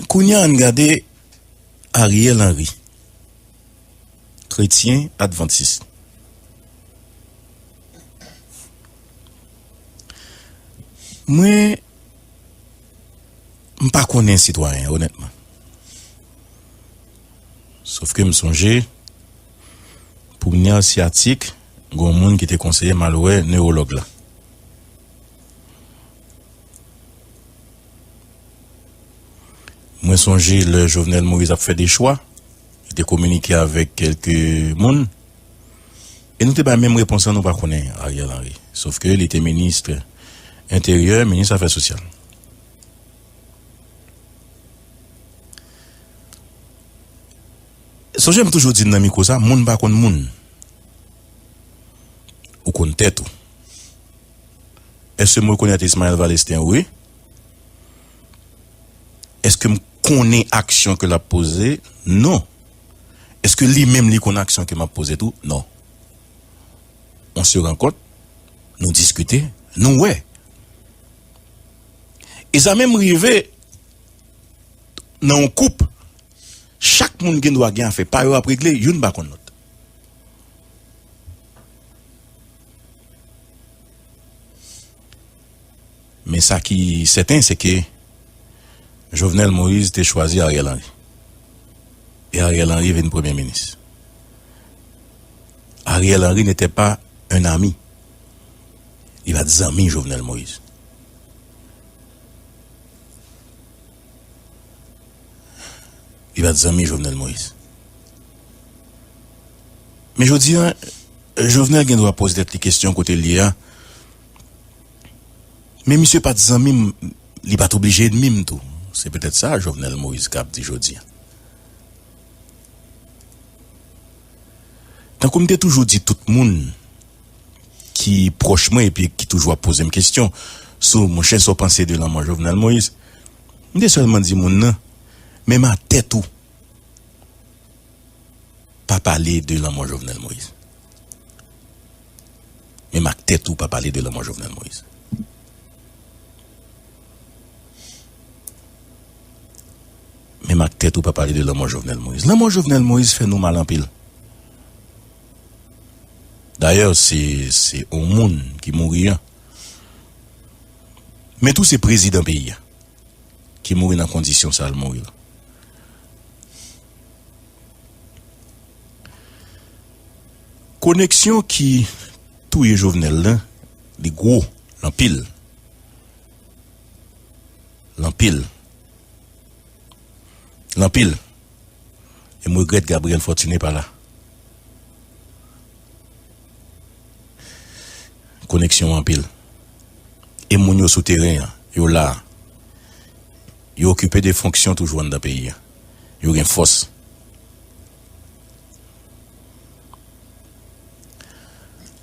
Kounya ann gade Ariel Henry, kretyen advantis. Mwen m pa konnen sitwayen an onètman. Sofke m sonje premye asyatik Gon moun ki te konseye m al wè newològ la. Mwen sonje lè Jovenel Moïse ap fè de chwa, li te kominike avèk kèlke moun. E nou te bay menm repons lan nou pa konnen Ariel Henry. Sof ke li te minist enteryè, minis afè sosyal. Sonje m toujou di nan mikwo sa moun pa konn moun ou konn tèt ou eske m rekonèt Ismael Valestin wi eske m konnen aksyon ke lap poze non eske li menm li konn aksyon ke map poze tou non on se rankont nou diskite nou wè e sa menm rive nan on koup. Chak moun gen dwa gen afè pa yo ap regle youn pa konn lòt. Men sa ki sèten se ke Jovenel Moïse te chwazi Ariel Henry. E Ariel Henry vin premye minis. Ariel Henry n'était pas un ami. Li pat zanmi Jovenel Moïse. Li pa t zanmi Jovenel Moïse. Men jodi a, Jovenel gen dwa poze tèt li kesyon kote l ye a, men misye pa t zanmi m, li pa t oblije ènmi m tou. Se petèt sa Jovenel Moïse kab di jodi a. Tankou m te toujou di tout moun. ki pwòch mwen epi ki toujou ap poze m kesyon sou monchè sa w panse de lanmò Jovenel Moïse, m te sèlman di moun nan men m a tèt ou pa pale de lanmò Jovenel Moïse. Men m ak tèt ou pa pale de lanmò Jovenel Moïse. Men m ak tèt ou pa pale de lanmò Jovenel Moïse. Lanmò Jovenel Moïse fè nou mal anpil. Dayè se se on moun ki mouri an. Men tou se prezidan peyi a ki mouri nan kondisyon sa l mouri la. Koneksyon ki touye Jovenel lan li gwo, l anpil. L anpil. L anpil. E m regrèt Gabriel Fortuné pa la. Koneksyon an anpil. E moun yo sou teren an, yo la. Yo okipe de fonksyon toujou anndan peyi an. Yo gen fòs.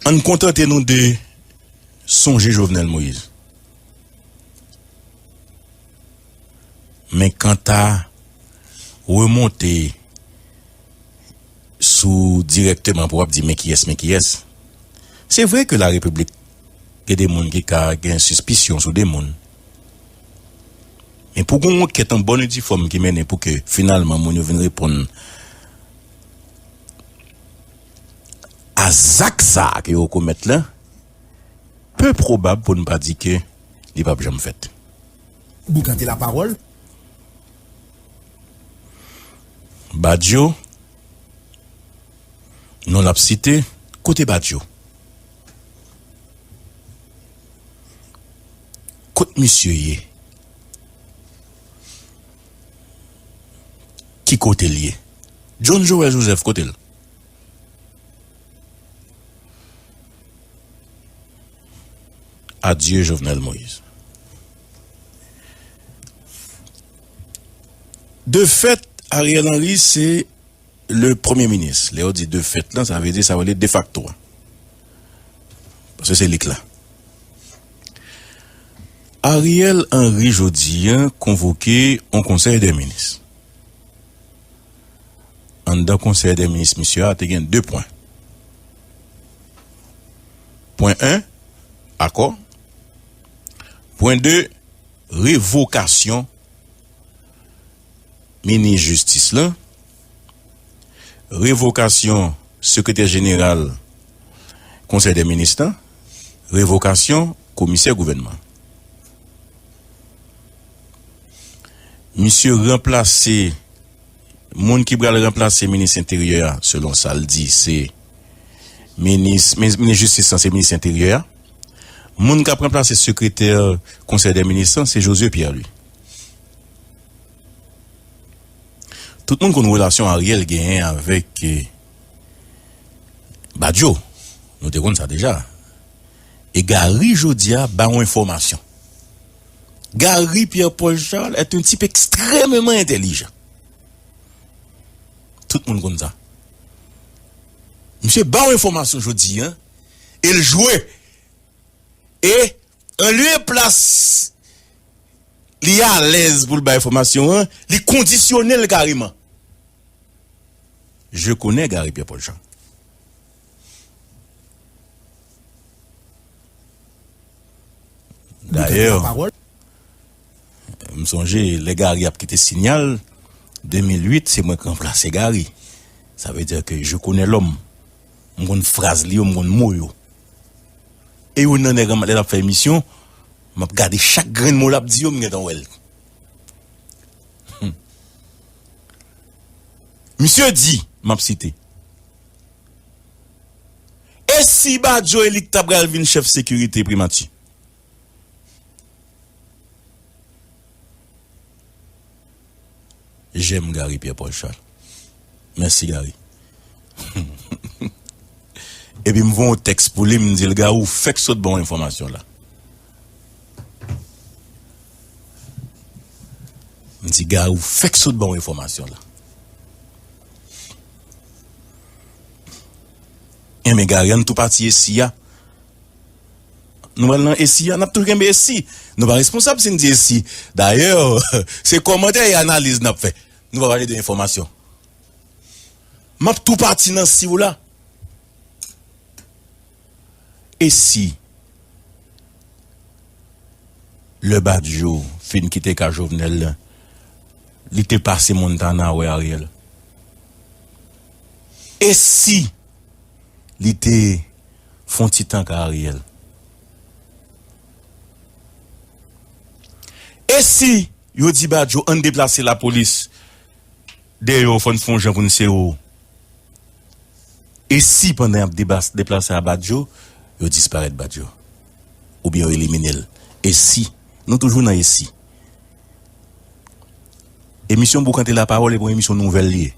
An n kontante nou de sonje Jovenel Moïse. Men kanta remonte sou dirèkteman pou w'ap di men kiyès men kiyès, se vre ke la repiblik gen de moun ki ka gen sispisyon sou de moun, men pou gon ankèt an bòn e di fòm ki mennen pou ke finalman moun yo vin reponn a zak sa ke yo komèt la, pe pwobab pou n pa di ke. li pap janm fèt. Boukante la pawol. Badio non lap site kote badio kot misye ye ki kotel ye John Joel Joseph kotel. Adye Jovenel Moïse. De fèt Ariel Henry se le premye minis. Lè yo di de fèt lan sa vle di sa yo rele defakto a. Paske se li k la. Ariel Henry jodi an konvoke yon konsèy de minis. anndan konsèy dè minis misye a te gen 2 pwen. Pwen 1, akò. Pwen 2, revokasyon minis jistis lan, revokasyon sekretè jeneral konsèy dè minis lan, revokasyon komisè gouvènman. Misye ranplase Moun ki pral ranplase minis enteryè a selon sa l di se minis minis jistis lan se minis enteryè a. Moun k ap ranplase sekretè konsèy dè minis lan se Josué Pierre Louis. Tout moun konn relasyon Ariel genyen avèk Badio. Nou te konn sa deja. E Gary jodia ba ou enfòmasyon. Gary Pierre Paul Charles est un type extrèmement intelligent. Tout moun konn sa. Misye ba ou enfòmasyon jodi an e l jwe. E an lye e plas li alèz pou l bay enfòmasyon an, li kondisyone l kareman. Je connais Gary Pierre Paul Charles. Dayè, m sonje lè Gary ap kite Signal, 2008, se mwen k ranplase Gary. Sa vle di ke je connais l'homme. M konn fraz li yo, m konn mo yo. E yo nan nèg lè l ap fè emisyon, m ap gade chak grenn mo l ap di yo, m gentan wè l. Misye di, m ap site. E si Badio e li ki ta pral vin chèf sekirite primati? J'aime Gary Pierre Paul Charles Merci Gary Epi m voye yon tèks pou li m di l Gary ou fèk sot ba w enfòmasyon la M di Gary ou fèk sot ba w enfòmasyon la Enben gari ann tou pati esi a. Nou pral nan esi a, n ap toujou kenbe esi. Nou pa responsab si n di esi. Dayè, se kòmantè e analiz n ap fè. Nou pa pale de enfòmasyon. M ap tou pati nan si w la. E si lè Badio fin kite ka Jovenel la li te pase Montana wè Ariel? E si li te fon ti tan ka Ariel? E si yo di Badio ann deplase lapolis Deyo fò n fè yon jan pou n sere w E si pandan y ap deplase a Badjo yo disparèt Badjo oubyen yo elimine l E si Nou toujou nan e si Emisyon Boukante Lapawòl e p yon emisyon nouvèl li ye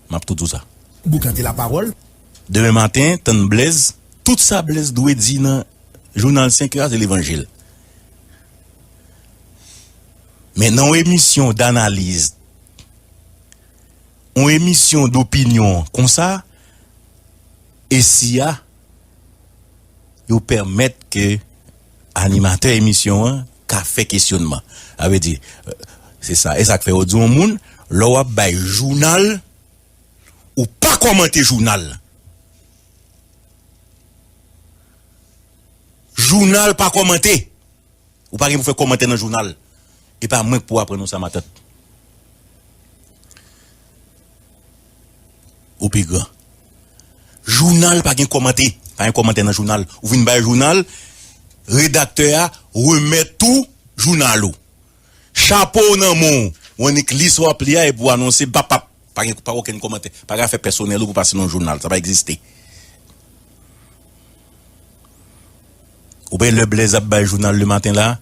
M ap toujou sa. Boukante Lapawòl. Demen maten tann Blèz Tout sa Blèz dwe di nan jounal 5 è a se levanjil Men nan yon emisyon danaliz On emisyon dopinyon konsa e si a yo pèmèt ke animatè emisyon an ka fè kesyonman. A vle di se sa e sak fè yo di on moun lè wap bay jounal ou pa kòmante jounal lan. Jounal pa kòmante. Ou pa gen pou fè kòmantè nan jounal. E pa mwen k pou aprann ou sa matant. Ou pi gran. Jounal pa gen kòmante. Pa gen kòmantè nan jounal. Ou vin bay jounal, redaktè a remèt ou jounal ou. Chapo w nan men w. Ou annik li sa w ap li a epi w anonse bapap. Pa gen okenn kòmantè. Pa gen afè pèsonèl ou pou pase nan jounal. Sa pa egziste. Ou bay lè Blaise ap bay jounal le maten la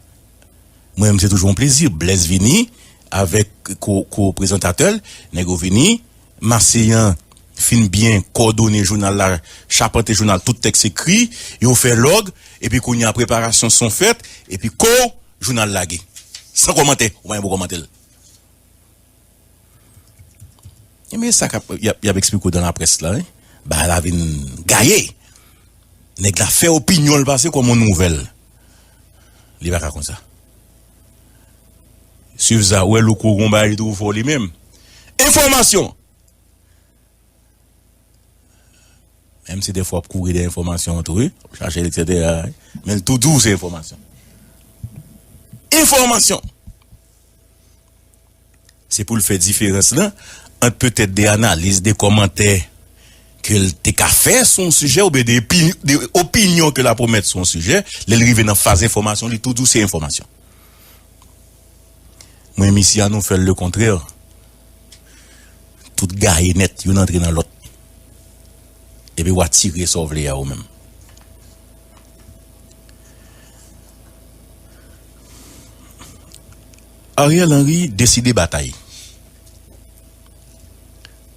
mwen menm se toujou yon plezi Blaise vini avèk ko ko prezantatè l nèg yo vini Marseillan fin byen kòdone jounal la chapante jounal tout tèks ekri yo fè lòg epi kounye a preparasyon son fèt epi kow jounal lage san kòmantè ou pa gen pou w kòmante l. Ebyen sa kap yap eksplike w dan la près la wi bagay la vin gaye nèg la fè opinyon l pase kòm yon nouvèl li pa ka konsa swiv sa ou wè louko gon bagay li twò fò li menm enfòmasyon menm si dèfwa w ap kouri dèyè enfòmasyon tou wi w ap chache l eksetera men l toujou se enfòmasyon enfòmasyon. Se pou l fè diferans lan ant petèt de analiz, de kòmantè ke l te ka fè sou yon sijè oubyen de opinyon ke l apwomèt sou yon sijè, lè l rive nan faz enfòmasyon li tou di w se enfòmasyon. Mwen misye an nou fè l le kontrè, tout gaye nèt, youn antre nan lòt. Epi wa tire sa w vle a ou menm. Ariel Henry deside batay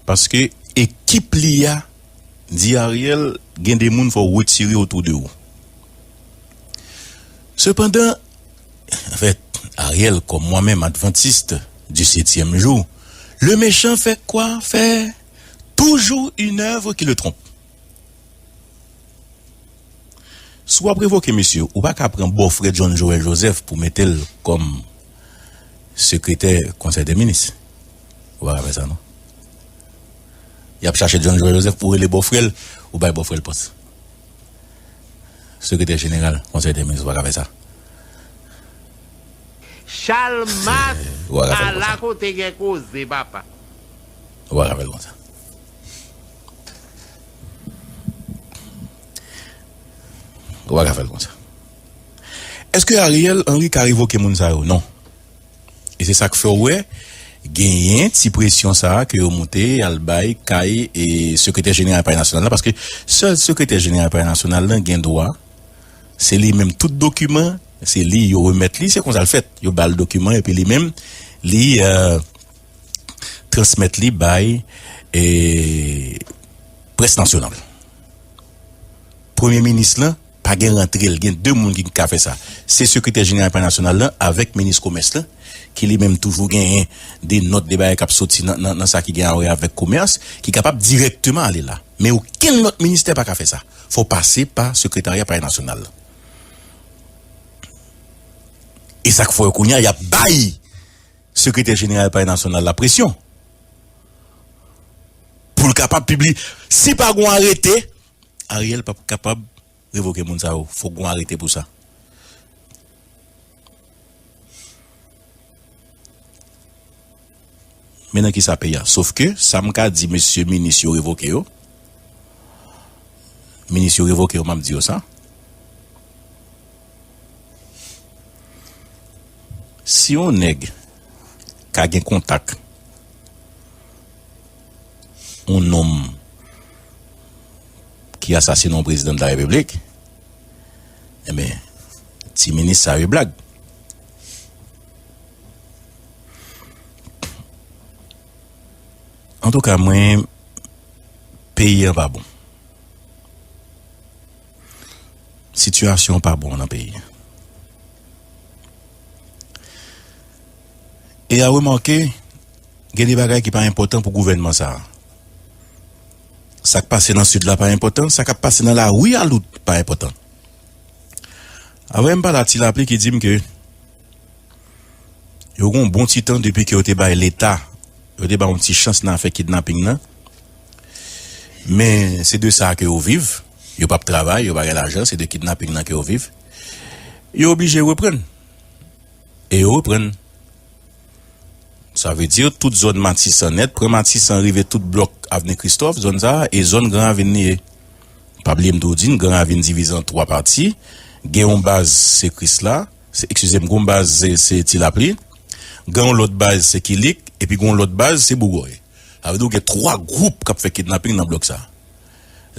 paske ekip li a di Ariel gen de moun fò w retire otou de ou. Sepandan, anfèt, Ariel kòm mwen menm advantist di setyèm jou, le mechan fè kwa fè toujou une œuvre qui le trompe. Si w ap revoke misye, ou pa ka pran bòfrè John Joel Joseph pou mete l kòm sekretè konsèy dè minis. Ou pa ka fè sa non. Y ap chache John Joel Joseph pou rele bòfrè l, ou bay bòfrè l pòs sekretè jeneral konsèy dè minis. Ou pa ka fè sa. Chalmas ala kote gen koze papa. Ou pa ka fè l konsa. Ou pa ka fè l konsa. Eske Ariel Henry ka revoke moun sa yo? Non. E se sa k fè w wè genyen ti presyon sa a ke yo moute al bay kay Sekretè Jeneral Pale Nasyonal la paske sèl Sekretè Jeneral Pale Nasyonal la gen dwa se li menm tout dokiman se li yo remèt li se konsa l fèt yo ba l dokiman epi li menm li transmèt li bay près nasyonal. Premye minis lan pa gen rantre l, gen 2 moun ki ka fè sa, se sekretè jeneral palè nasyonal lan avèk minis komès lan ki li menm toujou genyen de nòt, de bagay k ap soti nan sa ki gen awè avèk komès ki kapab dirèkteman ale la. Men okenn lòt ministè pa ka fè sa, fò w pase pa sekretarya palè nasyonal lan. E sa k fè kounye a y ap bay Sekretè jeneral Palè Nasyonal la presyon pou l kapab pibliye. Si pa gen yon arete, Ariel pap kapab revoke moun sa yo. Fòk gen yon arete pou sa. Men nan kisa peyi a. Sof ke sa m ka di mesye minis yo revoke yo, minis yo revoke yo, m ap di yo sa. Si yon nèg ka gen kontak yon nonm ki asasine yon prezidan de la repiblik enben ti minis sa yo blag. Antouka mwen peyi an pa bon. Sitiyasyon an pa bon nan peyi a. E a remake, gen de bagay ki pa enpòtan pou gouvènman sa a. Sa k pase nan Sid la pa enpòtan, sa k ap pase nan lari a lout pa enpòtan. Avè m pale ak ti lapli ki di m ke yo gen yon bon ti tan depi ke yo te bay Leta, yo te bay yon ti chans nan afè kidnaping nan, men se de sa ke yo viv. Yo pap travay, yo pa gen lajan, se de kidnaping nan ke yo viv. Yo oblije reprann. E yo reprann. Sa vle di tout zòn Matisan nèt, pran Matisan rive tout blòk Avni Kristòf, zòn sa a, e zòn Gran Ravin li ye. Pa bliye m tou di n, Gran Ravin divize an 3 pati. Gen yon baz se Krisla, se, ekskize m, gen yon baz se, se Ti Lapli. Gen yon lòt baz se Kilik, epi gen yon lòt baz se Bougòy. Sa vle di ou gen 3 gwoup k ap fè kidnaping nan blòk sa a.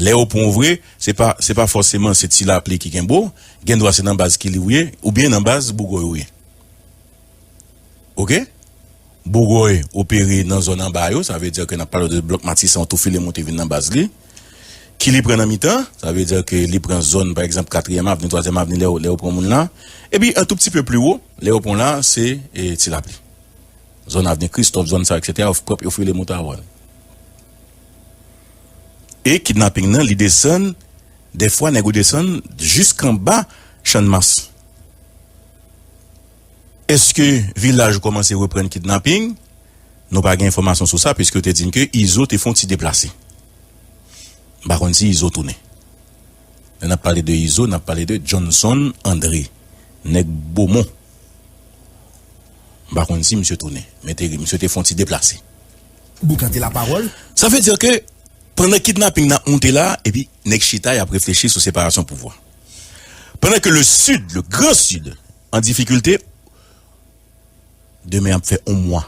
Lè yo pran w vre, se pa se pa fòseman se ti lapli ki kenbe w, gendwa se nan baz Kili ou ye oubyen nan baz Bougòy ou ye. Oke. Bougòy opere nan zòn anba yo, sa vle di ke n ap pale w de blòk Matisan w tou file monte vin nan baz li. Kili pran nan mitan, sa vle di ke li pran zòn pa egzanp Katriyèm Avni, Twazyèm Avni lè yo pran moun la. Epi an tou pti pe pli wo, lè yo pran w la se ti lapli. Zòn Avni Kristòf, zòn sa yo eksetera, yo file monte avè w. E kidnaping nan li desann dèfwa nèg ou desann jisk anba channmas eske vilaj ou kòmanse reprann kidnaping nou pa gen enfòmasyon sou sa piske yo te di n ke izo te fon ti deplase m pa konn si izo tounen lè nap pale de izo nap pale de Johnson Andre nèg bomon m pa konn si misye tounen men te misye te fon ti deplase. boukante lapawòl. Sa vle dire ke pandan kidnapping nan ap moute la epi nèg chita yap reflechi sou separasyon pouvwa. Pandan ke le Sud, le grand Sud an difikilte, demen ap fè on mwa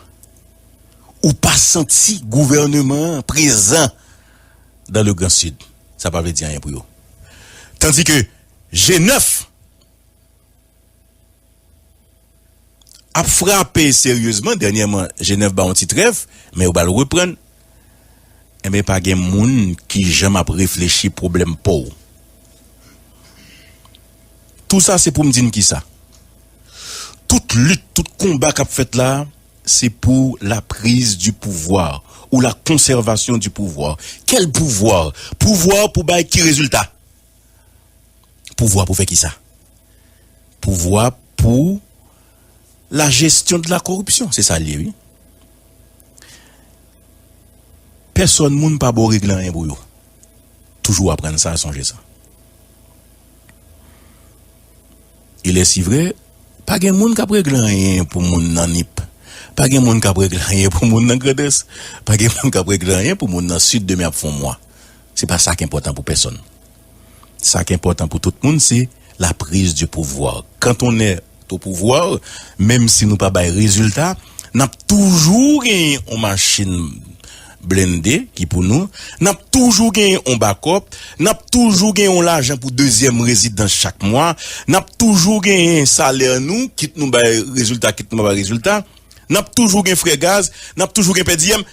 ou pa santi gouvèneman an prezan dan le grand Sud, sa pa vle di anyen pou yo. Tandis ke G9. ap frape seryezman dènyèman Jenèv ba yon ti trèv men yo bal reprann enben pa gen moun ki janm ap reflechi pwoblèm paw tou sa se poum di n kisa tout lit tout konba kap fèt la se pou la priz di pouvwa ou la konsèvasyon di pouvwa kèl pouvwa pouvwa pou bay ki rezilta. Pouvwa pou fè ki sa? Pouvwa pou la gestion de la corruption, se sa l ye wi. Pèsòn moun pa ba w regle anyen pou yo. Toujou aprann sa, sonje sa. E lè si vre, pa gen moun k ap regle anyen pou moun nan Nip, pa gen moun k ap regle anyen pou moun nan Grandans, pa gen moun k ap regle anyen pou moun nan Sid demen ap fon mwa. Se pa sa k enpòtan pou pèsonn. Sa k enpòtan pou tout moun se la prise du pouvoir. Quand on est au pouvoir, menm si nou pa bay rezilta, n ap toujou genyen yon machin blende ki pou nou, n ap toujou genyen yon bakòp, n ap toujou genyen yon lajan pou dezyèm rezidans chak mwa, n ap toujou genyen salè nou, kit nou bay rezilta kit nou pa bay rezilta, n ap toujou gen frè gaz, n ap toujou gen pèdiyèm.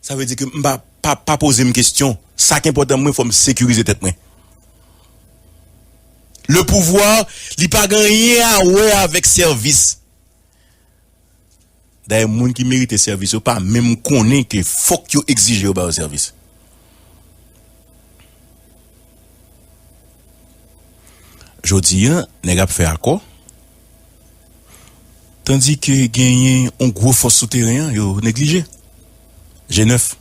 Sa vle di ke m pa pa poze m kestyon. Sa k enpòtan mwen fò m sekirize tèt mwen. Le pouvoir li pa gen anyen a wè avèk sèvis. Dayè moun ki merite sèvis yo pa menm konnen ke fòk yo egzije yo ba yo sèvis. Jodi a nèg ap fè akò. Tandi ke genyen yon gwo fòs sou teren an yo neglije. Je nèf.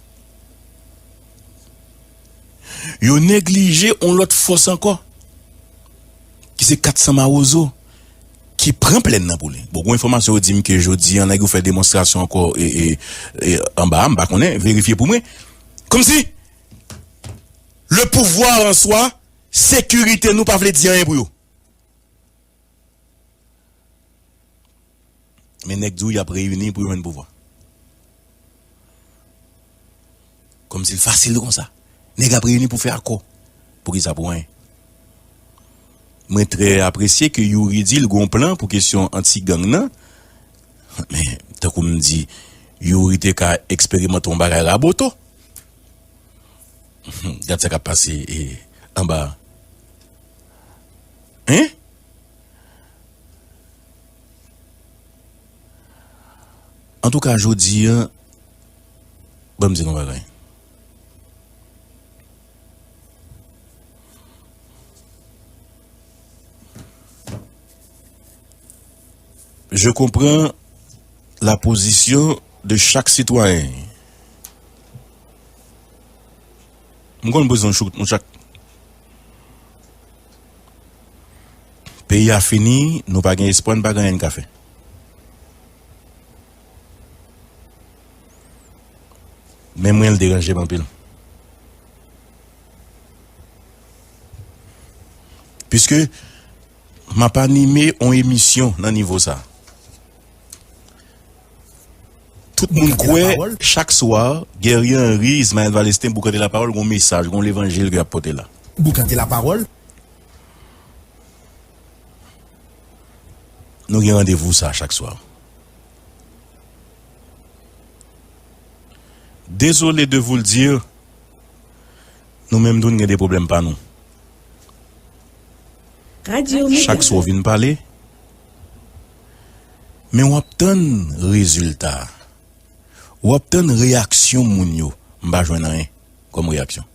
Yo neglije yon lòt fòs ankò ki se 400 mawozo ki pran plèn nan pou li. Bon, gwo enfòmasyon yo di m ke jodi an nèg yo fè demonstrasyon ankò anba a, m pa konnen, verifye pou mwen. Kòmsi le pouvwa an swa, sekirite nou pa vle di anyen pou yo. Men nèg di w y ap reyini pou jwenn pouvwa. Kòmsi l fasil konsa. Nèg ap reyini pou fè akò. Poukisa? Pou anyen. Mwen trè apresye ke Youri di l gen yon plan pou kesyon anti gang nan. Men, tankou m di, Youri te ka eksperimante yon bagay Raboto. Gad sa k ap pase anba a. Hein? Antouka jodi an, ban m di nou yon bagay. Je konpran la pozisyon de chak sitwayen. M konn pozisyon chak. Peyi a fini, nou pa gen espwa, n pa gen anyen n ka fè. Men mwen l deranje m anpil. Piske m ap anime yon emisyon nan nivo sa. Tout moun kwè chak swa Guerrier Henry Ismael Valestin Boukante Lapawòl gon mesaj, gon levanjil ke yap pote la. Boukante Lapawòl. Nou gen randevou sa chak swa. Dezole de voul dir, nou menm tou n gen de pwoblèm pa nou. Chak swa w vin pale. men wap tann rezilta a wap tann reyaksyon moun yo m pa jwenn anyen kòm reyaksyon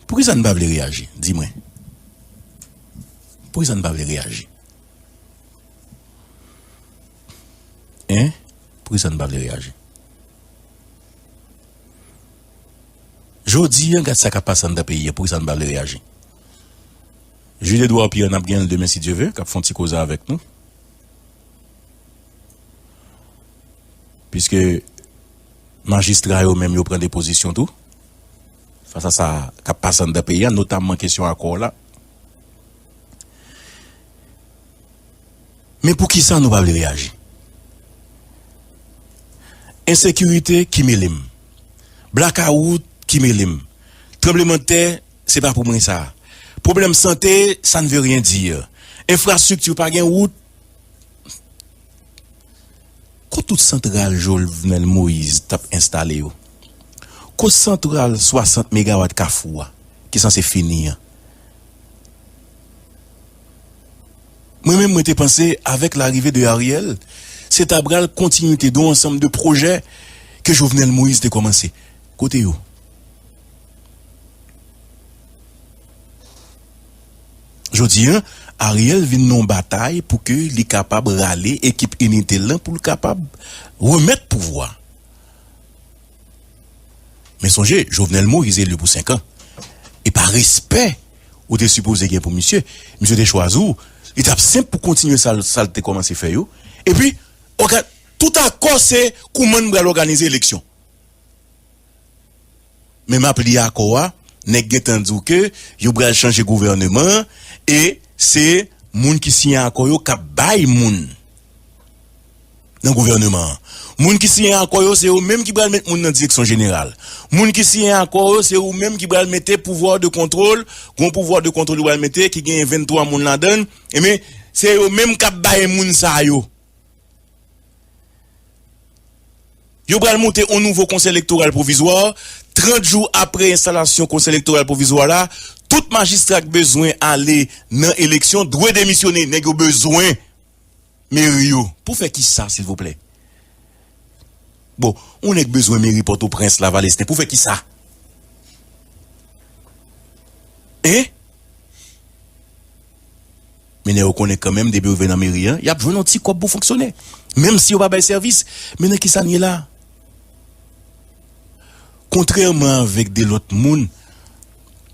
poukisa n pa vle reyaji di mwen poukisa n pa vle reyaji hein poukisa n pa vle reyaji jodi an gad sa kap pase anndan peyi a poukisa n pa vle reyaji. Jude Edouard Pierre nap genyen l demen si Dye ve kap fon ti koze avèk nou piske majistra yo menm yo pran de pozisyon tou fas a sa kap pase anndan peyi a notamman kesyon akò la men poukisa nou pa vle reyaji ensekirite ki mele m blakawout ki mele m tranblemanntè Se pa pou mwen sa. Pwoblèm sante, sa n ve ryen dir. Enfrastrikti, pa gen wout. Ko tout santral Jolvnèl Moyiz t ap enstale yo? Ko santral 60 megawat Kafou a ki sanse fini an? Mwen menm mwen te panse avèk larive de Ariel, se ta pral kontinite don ansanm de pwojè ke Jovnèl Moyiz te kòmanse. Kote yo? Jodi an, Ariel vin nan yon batay pou ke li kapab rale ekip inite l lan pou l kapab remèt pouvwa. Men sonje, Jovenel Moïse eli pou 5 an. E pa respè ou te sipoze gen pou misye, misye te chwazi w, li t ap senp pou kontinye sa l te kòmanse fè yo. Epi, tout akò se kouman n pral òganize eleksyon. Men map li akò a nèg gentan di w ke yo pral chanje gouvèneman an e se moun ki siyen akò yo kap bay moun nan gouvèneman an moun ki siyen akò yo se yo menm ki pral met moun nan direksyon jeneral moun ki siyen akò yo se yo menm ki pral mete pouvwa de kontwòl gon pouvwa de kontwòl yo pral mete ki genyen 23 moun ladann e men se yo menm kap bay moun sa yo. Yo pral moute on nouvo Konsèy Elektoral Pwovizwa, 30 jou apre enstalasyon Konsèy Elektoral Pwovizwa la, tout majistra k bezwen ale nan eleksyon dwe demisyone, nèg yo bezwen meri yo pou fè kisa silvouplè? Bon, on nèg bezwen meri Pòtoprens la, Valesten pou fè kisa? Hein? Mennen yo konnen kanmenm depi yo rive nan meri an, y ap jwenn yon ti kòb pou fonksyone. Menm si yo pa bay sèvis. Men nan ki sa n ye la a? Kontrèman avèk de lòt moun,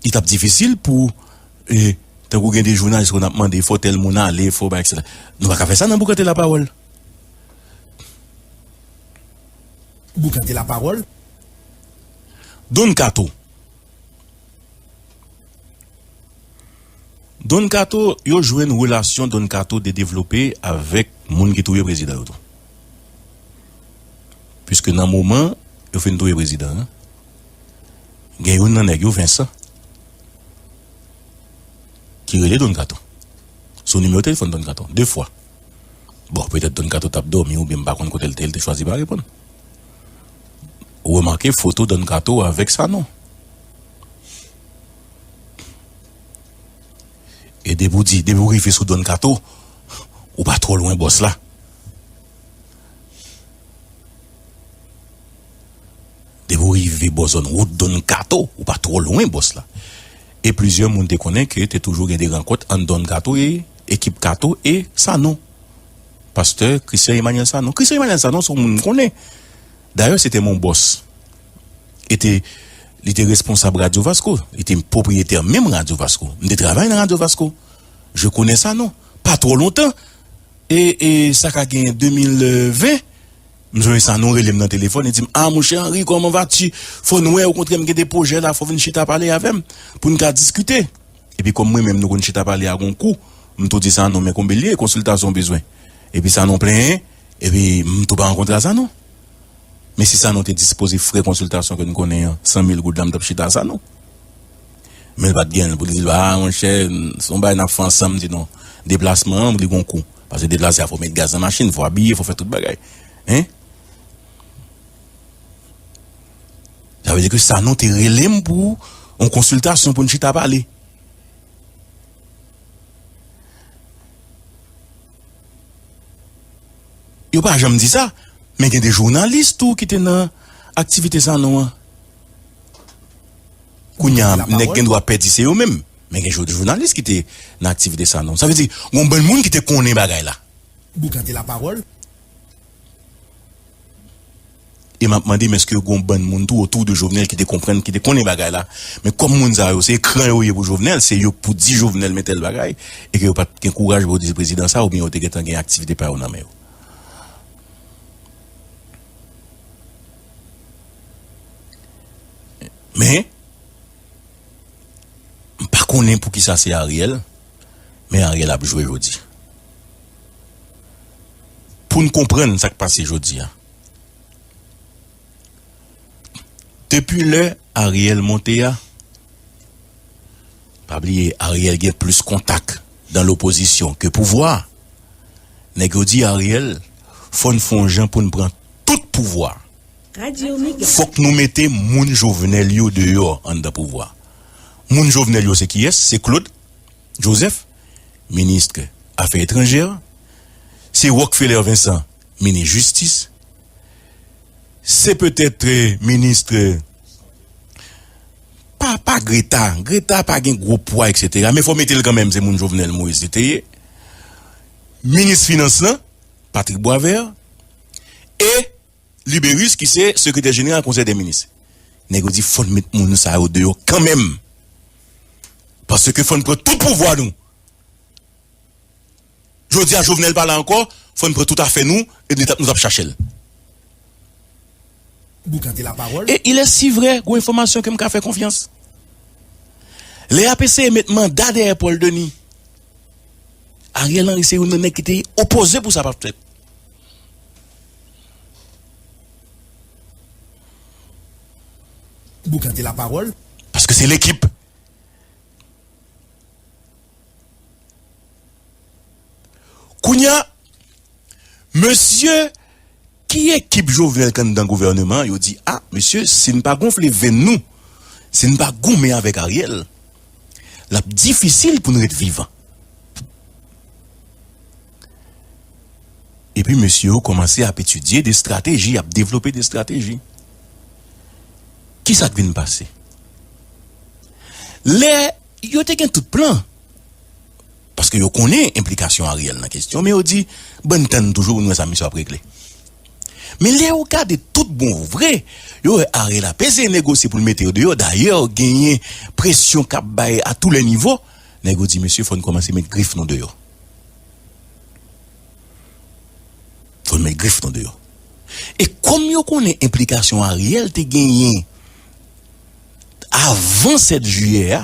li t ap difisil pou tankou gen de jounalis konn ap mande fò tèl moun ale, fò bay eksetera. Nou pa ka fè sa nan Boukante Lapawòl. Boukante Lapawòl. Don Kato. Don kato yo jwenn relasyon don kato te devlope avèk moun ki touye prezidan yo tou. Piske nan moman yo fin touye prezidan an, gen youn nan nèg yo Vincent ki rele don kato sou nimewo telefòn don kato 2 fwa. Bon petèt don kato tap dòmi oubyen m pa konn kote l te, l te chwazi pa reponn. remake foto Don Kato avèk Sanon. E depi w di, depi w rive sou Don Kato, ou pa twò lwen bòs la. Depi w rive bò zòn wout Don Kato, ou pa twò lwen bòs la. E plizyè moun te konnen ke te toujou gen de rankont ant Don Kato e ekip Kato e Sanon. Pastè Christian Emmanuel Sanon. Christian Emmanuel Sanon se yon moun m konnen. Dayè se te mon bòs. E te, li te responsab Radyo Vasko. Li te pwopriyetè menm Radyo Vasko. M te travay nan Radyo Vasko. Je konnen Sanon. Pa twò lontan, e, e sa ka gen 2020, m jwenn Sanon rele m nan telefòn, li di m, a mon chè Henri, kòman va ti? Fò n wè, okontrè m gen de pwojè la, fò w vin chita pale avè m, pou n ka diskite. Epi kòm mwen menm nou konn chita pale a gon kou m tou di Sanon men konbe l ye konsiltasyon w bezwen epi Sanon plenyen epi m tou pa rankontre a Sanon men si Sanon te dispoze frè konsiltasyon ke n konnen an san mil goud la m t ap chita a Sanon men l pa t gen l pou l di l a monchè se yon bagay n ap fè ansanm m di non deplasman an li gon kou paske deplase a fò w met gaz nan machin fò w abiye fò w fè tout bagay hein. Sa vle di ke Sanon te rele m pou yon konsiltasyon pou n chita pale. Yo pa janm di sa, men gen de jounalis tou ki te nan aktivite Sanon an. Kounye a, nèg gen dwa pè di se yo menm, men gen de jounalis ki te nan aktivite Sanon. Sa vle di, gen yon bann moun ki te konnen bagay la. Boukan te lapawòl. E map mandem eske gon bann moun tou otou de Jovenel ki te konprann, ki te konnen bagay la. Men kòm moun sa yo se ekran yo ye pou Jovenel, se yo pou di Jovenel men tèl bagay, e ke yo pat gen kouraj pou yo di se prezidan sa oubyen yo te gentan gen aktivite pa yo nan men yo. Men, m pa konnen poukisa se Ariel, men Ariel ap jwe jodi. pou n konprann sa k pase jodi a. Depi lè Ariel monte a, pa bliye Ariel gen plis kontak dan lopozisyon ke pouvwa, nèg yo di Ariel fò n fon jan pou n pran tout pouvwa, fòk nou mete moun Jovenel yo deyò anndan pouvwa. Moun Jovenel yo se kiyès? Se Claude. Joseph, Minist Afè Etranjè, se Rockfeller Vincent, Minis Jistis, se petèt Minis pa pa Greta, Greta pa gen gwo pwa eksetera men fò mete l kanmenm se moun Jovenel Moïse li te ye, Minis Finans lan Patrick Boisvert e Libérus ki se sekretè jeneral konsèy dè minis. Nèg yo di fò n met moun sa yo deyò kanmenm. Paske fò n pran tout pouvwa nou. Jodi a Jovenel pa la ankò, fò n pran tout afè nou e nou t ap chache l. E il est si vrè, gwo enfòmasyon ke m ka fè konfyans. Lè y ap eseye met manda dèyè Paul Denis, Ariel Henry se youn nan nèg ki te opoze pou sa pa t fèt. Boukan te la pawòl paske se lekip. Kounya mesye ki ekip Jovenel kanndan gouvèneman yo di a mesye si n pa gonfle venn nou si n pa goumen avèk Ariel lap difisil pou n ret vivan. Epi mesye yo kòmanse ap etidye de strateji, ap devlope de strateji. Kisa k vin pase? Lè yo te gen tout plan, paske yo konnen enplikasyon Ariel nan kesyon, men yo di, bann tann toujou pou n wè sa misye ap regle. Men lè yo gade tout bon vre, yo wè Ariel ap eseye negosye pou l mete yo deyò, dayè genyen presyon k ap bay a tou lè nivo, nèg yo di mesye fò n kòmanse met grif nou deyò. Fò n met grif nou deyò. E kòm yo konnen enplikasyon Ariel te genyen avan 7 jiyè a,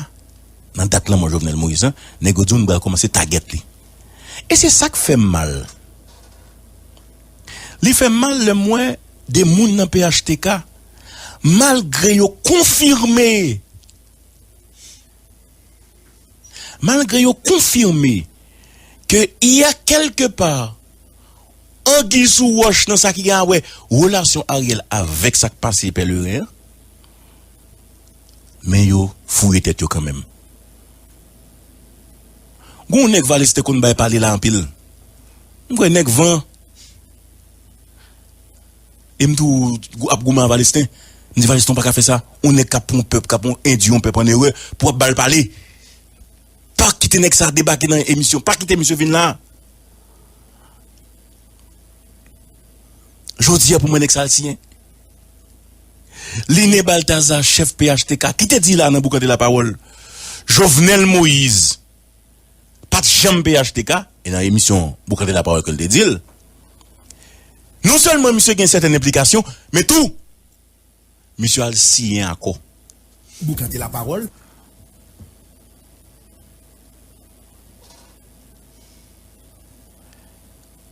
nan dat lanmò Jovenel Moïse lan, nèg yo di w nou pral kòmanse tagèt li. E se sa k fè m mal. Li fè m mal lè m wè 2 moun nan phtk, malgre yo konfime. malgre yo konfime ke y a kèlke pa anguy sou wòch nan sa ki gen awè relasyon Ariel avèk sa k pase Pèleren an, men yo fouye tèt yo kanmenm. Gen yon nèg Vale's te konn bay pale la anpil, m kwè nèg van. E m tou ap goumen avè Alestin. M di Valiston ou pa ka fè sa. On nèg k ap pran on pèp, k ap endui on pèp an erè pou w ap ba l pale. Pa kite nèg sa debake nan emisyon. Pa kite misye vin la. Jodi a pou mwen nèg sa al siyen. Line Balthazar chèf phtk ki te di la nan Boukante Lapawòl Jovenel Moïse. pat janm phtk e nan emisyon Boukantre la pawòl ke l te di l non sèlman misye gen sèten enplikasyon men tou misye al siyen akò. Boukantre la pawòl.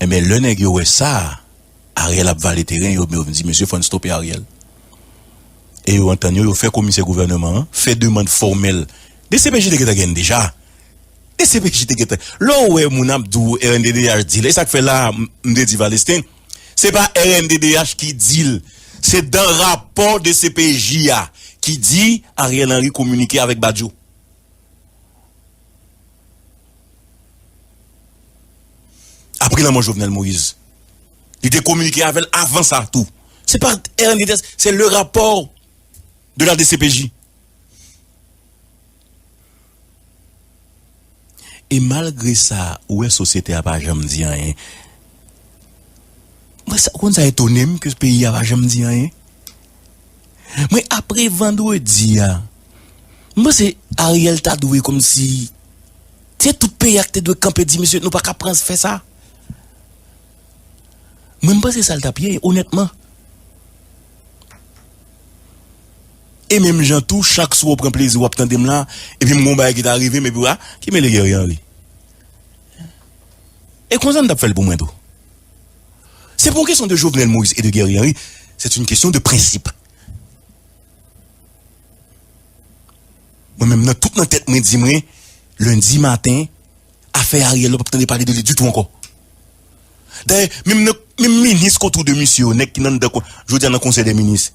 Enben lè nèg yo wè sa Ariel ap vale teren yo yo vin di mesye fòn stope Ariel e yo antann yo yo fè komisè gouvèneman an fè demand fòmèl dcpj te gentan genn deja dcpj te gentan lè w wè moun ap di w rnddh di l e sa k fè la a m te di Valesten se pa rnddh ki di l se dan rapò dcpj a ki di Ariel Henry kominike avèk Badio. Apre lanmò Jovenel Moïse, li te kominike avè l avan sa tou. Se pa rnddh, se le rapò de la dcpj. E malgre sa, ou wè sosyete a pa janm di anyen. Mwen sa, ou konn sa etone m ke peyi a pa janm di anyen? Mwen apre vandredi a m panse Ariel ta dwe komsi se tout peyi a ki te dwe kanpe di misye nou pa ka pran fè sa mwen m panse sa l tap ye onètman e menm jan tou chak swa w pran plezi w ap tande m la epi m gen yon bagay ki ta rive m epi w a ki mele Guerrier Henry e konsa m tap fè l pou mwen tou. Se pa yon kesyon de Jovenel Moïse e de Guerrier Henry, c'est une question de principe. Mwen menm nan tout nan tèt mwen di mwen Lundi maten afè Ariel nou pap tande pale de li ditou ankò. Dayè menm nan menm minis ki otou de misye yo nèg ki nan anndan jodi a nan konsèy dè minis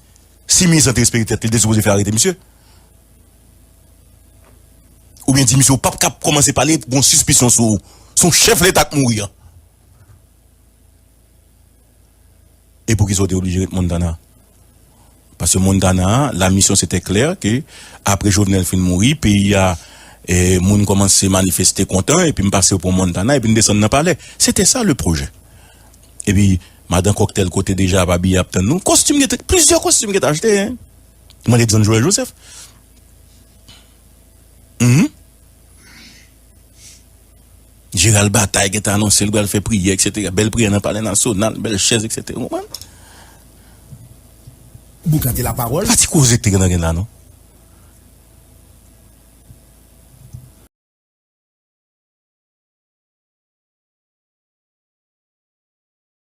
si minis lan te respekte tèt li li te sipoze fè arete misye oubyen di misye ou pap ka kòmanse pale pou gon sispisyon sou ou son chèf leta k mouri an. E poukisa ou te oblije ret Montana? Paske Montana a, la mission c'était clair ke apre Jovenel fin mouri, peyi a, moun kòmanse manifeste kontan, epi m pase yo pran Montana, epi n desann nan palè. C'était ça le projet. Epi, Madan Kòktèl kote deja ap abiye ap tann nou. Kòstim gen te, plizyè kòstim gen te achte. Mande John Joël Joseph. Mph. Jeneral Bataille gentan anonse li pral fè priyè eksetera, bèl priyè nan palè nasyonal, bèl chèz eksetera, ou konprann? Boukante lapawòl. Pa ti koze k te gentan gen la non.